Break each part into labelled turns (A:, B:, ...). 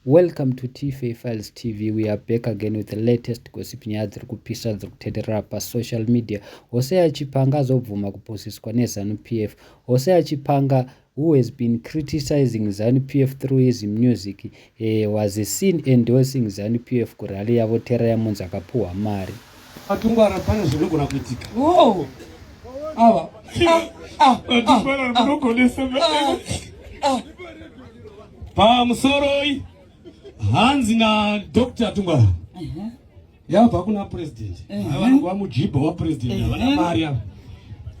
A: Welcome to Tfay Files TV. We are back again with the latest gossip nyaya dziri kupisa dziri kutenderera pasocial media. Hosea Chipanga azobvuma kuposiswa neZanu PF. Hosea Chipanga who has been criticizing Zanu PF through his music eh, was seen endorsing Zanu PF kurally yavo Tera Yamunzi akapuhwa mari. Matungwara pane
B: zvinogona kuitika. Oh. Ava. Ah, ah, Matungwara ah, munogonesa. Ah, ah. Pamusoroi hanzi na Dr. Tungwara. Uh mhm. -huh. Yava kuna president. Uh mhm. -huh. Ava mujibo wa president. Uh -huh. Ava na Maria.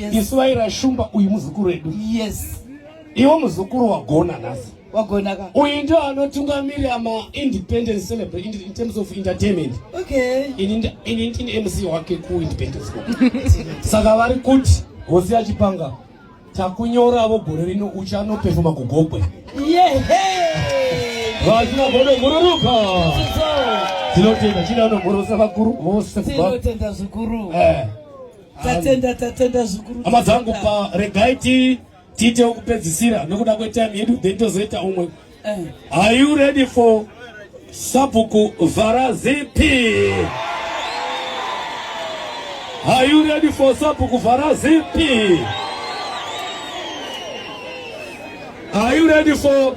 B: yes. isu vaira shumba uyu muzukuru wedu yes
C: iwo muzukuru
B: wagona nhasi wagona ka uyu
C: ndio
B: anotungamirira maindependence celebrate in, in terms of entertainment okay
C: ini ini ndini
B: mc wake kuindependence saka vari kuti hosi yachipanga takunyoravo gore rino uchanopefoma kugogwe vachina godo gururuka tinotenda chidano gorosa vakuru vose tinotenda zvikuru
C: eh. Tatenda tatenda zvikuru. Hama dzangu pa
B: regai ti tiite wekupedzisira nokuda kwetime yedu then tozoita umwe. Eh. Are you ready for Sabuku Varazipi? Are you ready for Sabuku Varazipi? Are you ready for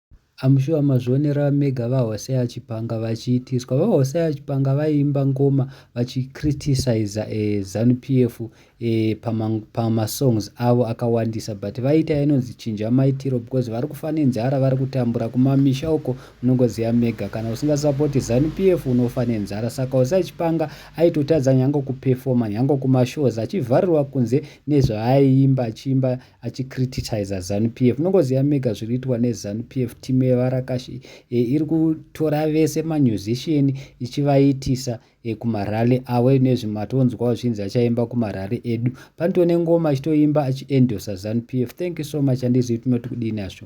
A: I'm sure mazvionera mega vaHosea Chipanga vachiitiswa. VaHosea Chipanga vaiimba ngoma vachicriticiza eh, Zanu PF eh, pamasongs pama avo akawandisa but vaiita inonzi chinja maitiro because vari kufa nenzara vari kutambura kumamisha uko munongoziva mega kana usingasapoti Zanu PF unofa nenzara saka Hosea Chipanga aitotadza nyange kupefoma nyange kumashows achivharirwa kunze nezvaaiimba achiimba achicriticiza zanupf munongoziva mega zviri kuitwa nezanupf timu yevarakashi e, iri kutora vese mamusician ichivaitisa e, kumarally awe nezvimatonzwawo zvinzi achaimba kumarally edu panito nengoma achitoimba achiendosa zanupf thank you so much andizivi tinoti kudini asho